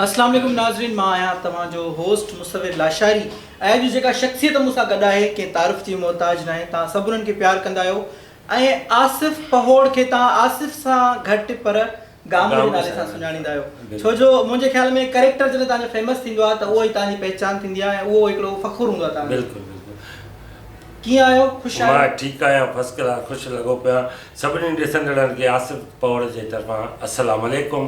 اسلام عليڪم ناظرين مان آهيان توهان جو هوسٽ مصور لاشاري ۽ اڄ جيڪا شخصيت مون سان گڏ آهي ڪنهن تعارف جي محتاج ناهي توهان سڀ انهن کي پيار ڪندا آهيو ۽ آصف پهوڙ کي توهان آصف سان گهٽ پر گامڙ جي نالي سان سڃاڻيندا آهيو ڇو جو منهنجي خيال ۾ ڪريڪٽر جڏهن توهان جو فيمس ٿيندو آهي ته اهو ئي توهان جي پهچان ٿيندي آهي ۽ اهو هڪڙو فخر هوندو آهي توهان جو ڪيئن آهيو خوش آهيو مان ٺيڪ آهيان فرسٽ ڪلاس خوش لڳو پيو آهيان سڀني ڏسندڙن کي آصف پهوڙ جي طرفان اسلام عليڪم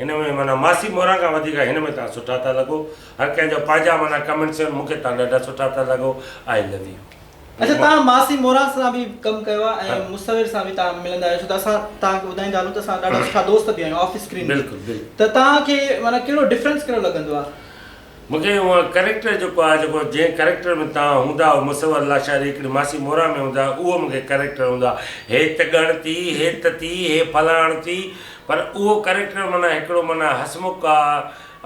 هن ۾ معنيٰ ماسي موران کان وڌيڪ هن ۾ تان سٺا ٿا لڳو هر ڪنهن جو پنهنجا معنيٰ ڪمينٽس آهن مون کي تان ڏاڍا سٺا ٿا لڳو آئي لو يو. اچا تان ماسي موران سان به ڪم ڪيو آهي ۽ مصور سان به تان ملندا آهيو ڇو ته اسان تان کي ٻڌائيندا هلون ته اسان ڏاڍا سٺا دوست به آهيون آف اسڪرين به ته تان کي معنيٰ ڪهڙو ڊفرنس ڪهڙو لڳندو آهي. مون کي اهو ڪريڪٽر جيڪو آهي جيڪو جنهن ڪريڪٽر ۾ توهان هوندا آهو مصور لاشاري هڪڙي ماسي مورا ۾ هوندا آهيو اهو مون کي ڪريڪٽر هوندا هي ته ڳڻتي هي ته تي هي فلاڻ تي پر اهو ڪريڪٽر معنيٰ هڪڙو معنيٰ هسمک آ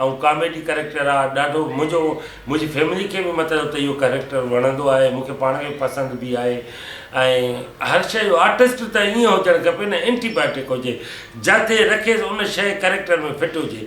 ۽ ڪاميڊي ڪريڪٽر آ ڏاڍو منهنجو منهنجي فيملي کي به مطلب ته اهو ڪريڪٽر وڻندو آهي مون کي پاڻ کي پسند به آهي ۽ هر شي جو آرٽسٽ ته ائين هجڻ کپي نه اينٽي بايوٽڪ هجي جاته رکيس ان شي ڪريڪٽر ۾ فٽ هجي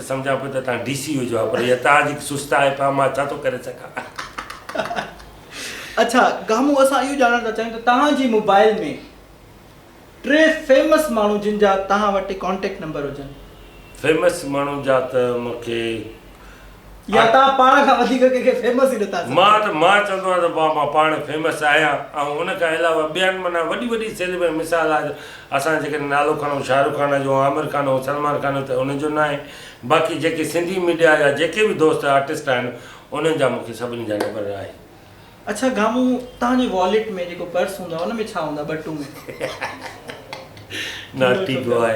سمجهان پيو ته تان ڊي سي هجو ها پر اها تان جيڪي سست آهي پا مان ڇا ٿو ڪري سگهان. اڇا گامو اسان اهو ڄاڻڻ ٿا چاهيون ته تهان جي موبائل ۾ ٽي فيمس ماڻهو جن جا تهان وٽ ڪانٽيڪٽ نمبر هجن. فيمس ماڻهو جا ته مون کي. يا تهان پاڻ کان وڌيڪ ڪنهن کي فيمس ئي نٿا سمجهو. مان ته مان چوندو آهيان ته مان پاڻ فيمس آهيان ۽ ان کان علاوه ٻين معنيٰ وڏي وڏي سيليبرٽي مثال آهي. اسان جيڪڏهن نالو کڻون شاهه رخ خان جو عامر خان جو سلمان خان جو ته انهن جو ناهي باقي جيڪي سنڌي ميڊيا جا جيڪي به دوست آرٽسٽ آهن انهن جا مونکي سڀني جا نبر آهي. اڇا گامو تهان جي واليٽ ۾ جيڪو پرس هوندو آهي ان ۾ ڇا هوندا ٻٽو ۾. ناٽي باء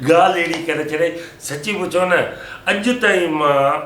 ڳالهه اهڙي ڪري ڇڏي سچي پڇو نه اڄ تائين مان.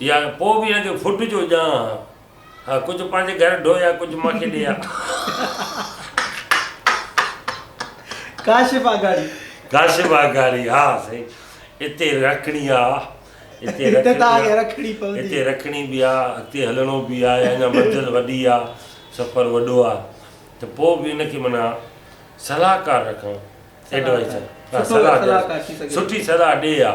يا پوء به اڄ فٽ جو ڄان ها. ڪجهه پنهنجي گهر ڍو يا ڪجهه مان کي ڏي ها. ڪاشف آگاڙي. ڪاشف آگاڙي ها سائين اتي رکڻي آ. اتي ته آگي رکڻي پوندي. اتي رکڻي به آ اڳتي هلڻو به آ اڃا منزل وڏي آ سفر وڏو آ ته پوء به ان کي معنيٰ صلاحڪار رکڻ ايڊوائيزر سٺي صلاح ڏي ها.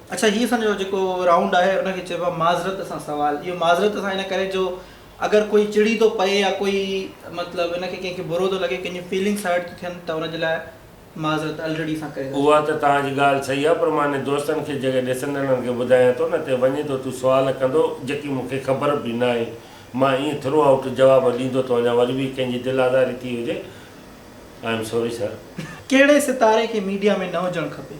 اڇا هي اسان جو جيڪو رائونڊ آهي ان کي چئبو آهي معذرت سان سوال اهو معذرت سان ان ڪري جو اگر ڪوئي چڙي ٿو پئي يا ڪوئي مطلب ان کي ڪنهن کي برو ٿو لڳي ڪنهن جون فيلنگس هرٽ ٿيون ٿين ته ان جي لاء معذرت الريڊي اسان ڪري ٿا اها ته توهان جي ڳالهه صحيح آهي پر مانهن دوستن کي جڳهه ڏسندڙن کي ٻڌايان ٿو نه ته وڃي ته تون سوال ڪندو جيڪي مون کي خبر به ناهي مان ائين ٿرو آئوٽ جواب ڏيندو ٿو وڃان وري به ڪنهن جي دل آزاري ٿي هجي آئي ايم سوري سر. ڪهڙي ستاري کي ميڊيا ۾ نه هجڻ کپي؟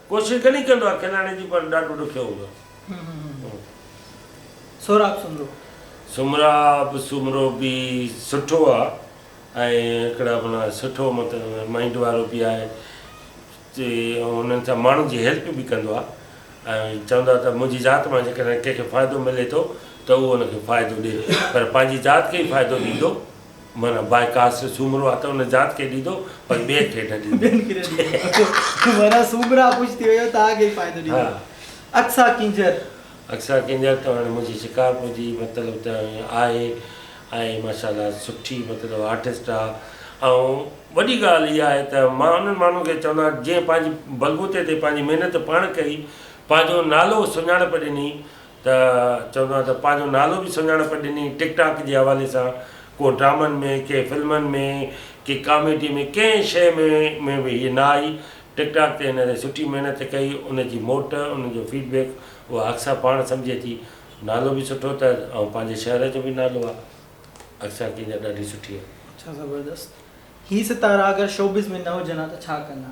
ڪوشش گهڻي ڪندو آهي کلائڻ جي پر ڏاڍو ڏکيو هوندو آهي. سهراب سومرو. سومراب سومرو به سٺو آ ۽ هڪڙا معنيٰ سٺو مطلب مائينڊ وارو به آهي چي انهن سان ماڻهن جي هيلپ به ڪندو آ ۽ چوندا ته منهنجي ذات مان جيڪڏهن ڪنهن کي فائدو ملي ٿو ته اهو ان کي فائدو ڏي پر پنهنجي ذات کي ئي فائدو ڏيندو معنيٰ باء ڪاسٽ سومرو آ ته ان ذات کي ڏيندو پر ٻين کي نه ڏيندو. ٻين کي نه ڏيندو معنيٰ سومرا خوش ٿي ويو توهان کي ئي فائدو ڏيندو. ها. اقصيٰ ڪينجهر. اقصيٰ ڪينجهر ته هاڻي منهنجي شڪارپور جي مطلب ته آهي ۽ ماشاء الله سٺي مطلب آرٽسٽ آ ۽ وڏي ڳالهه اها آهي ته مان انهن ماڻهن کي چوندا جنهن پنهنجي بلبوتي تي پنهنجي محنت پاڻ ڪئي پنهنجو نالو سڃاڻپ ڏني ته چوندا ته پنهنجو نالو به سڃاڻپ ڏني ٽڪ ٽاڪ جي حوالي سان ڪو ڊرامن ۾ ڪي فلمن ۾ ڪي ڪاميڊي ۾ ڪنهن شئي ۾ ۾ به هي نه آئي ٽڪ ٽاڪ تي هن ري سٺي محنت ڪئي ان جي موٽ ان جو فيڊ بيڪ اها اڪثر پاڻ سمجهي ٿي نالو به سٺو تر ۽ پنهنجي شهر جو به نالو آ اڪثر ڪنهن جا ڏاڍي سٺي آ. ڇا زبردست. هي ستارا اگر شوبز ۾ نه هجن ها ته ڇا ڪن ها.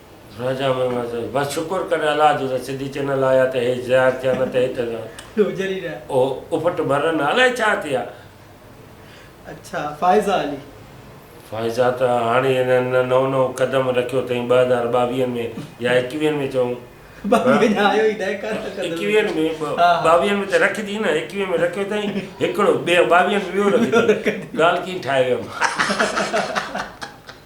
راجا محمد چيو بس شڪر ڪر الله جو ته سنڌي چينل آيا ته هي زيار ٿيا نه ته هڪ اهو اڦٽ مرن ها الائي ڇا ٿي ها. فائزه ته هاڻي هنن نئون نئون قدم رکيو ٿئين ٻه هزار ٻاويهن ۾ يا ايڪويهن ۾ چئون ايڪويهن ۾ ٻاويهن ۾ ته رکجي نه ايڪويهن ۾ رکيو ٿئين هڪڙو ٻيو ٻاويهن ۾ ٻيو رکجي ڳالهه ڪئين ٺاهي ويم.